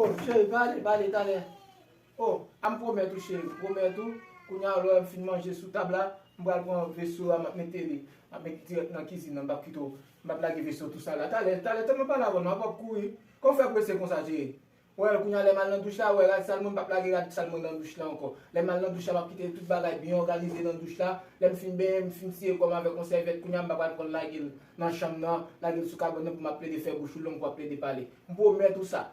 Oh cheri pale pale talè Oh a m pwomèt ou cheri m pwomèt ou Kounya lè m fin manje sou tab la M pral pran veso a m ap mete li M ap met dirèk nan kizin nan m pap kite w M ap lage veso tou sal la Talè talè tanmen pale avè m nan wap kouri Kòw fè prese konsa cheri Well kounya lèm al nan douch la wè rad sal mwen pap lage rad sal mwen nan douch la ankò lèm al nan douch la map kite tout bagay byen òganize nan douch la lèm fin benyen m fin siye kòm avèk yon sèvyèt kounya m pa pral pranl lagel nan chanm nan lagel sou kabòn nan pou map plede fè bouch ou long pou ap plede pale m pwomèt ou sa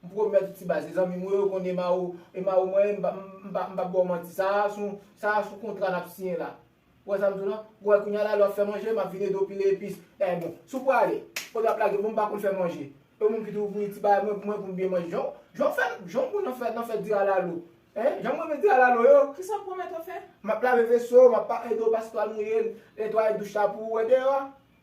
m pwomèt ou ti baz e zanmim ou yo yo konn ema ou ema ou mwen m pap bòw manti sa a sou sa a sou kontra nap siyen la. Ou wè sa m di w la? Ou wè kounya la lè w ap fè manje, m ap vin ede w pile epis. Èh bon, si w prale, ou ap lage m, bon m pa konn fè manje. E w menm ki di w voye ti bagay mwen pou mwen pou m byen manje. Jan w fè, jan w bon nan fè, nan fè di alalo. Hein, jan m renmen di alalo yo. Kisa w pwomèt w ap fè? M ap lave veso, m ap pa ede w paske w al mouye l, netwaye douch la pou ou wè deyò a.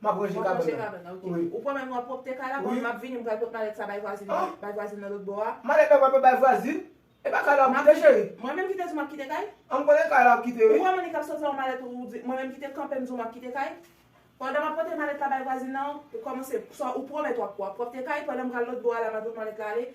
Map ranje kabana ok. Ou pran menm wap pwopte kay la bon map vini mpral pot malèt sa bay vwazin nan bay vwazin nan lotbo a. Malèt la pral pot bay vwazin? Epa kay la wap kite cheri? Mwen menm kite di w map kite kay? An m konnen kay la wap kite wi. Ou wè moun li kap sot fè yon malèt ou di mwen menm kite kanpe m di w map kite kay? Pandan map pote malèt la bay vwazin nan ou komanse sa ou pwomèt wap wap pwopte kay pandan mpral lotbo a la map pot malèt la ale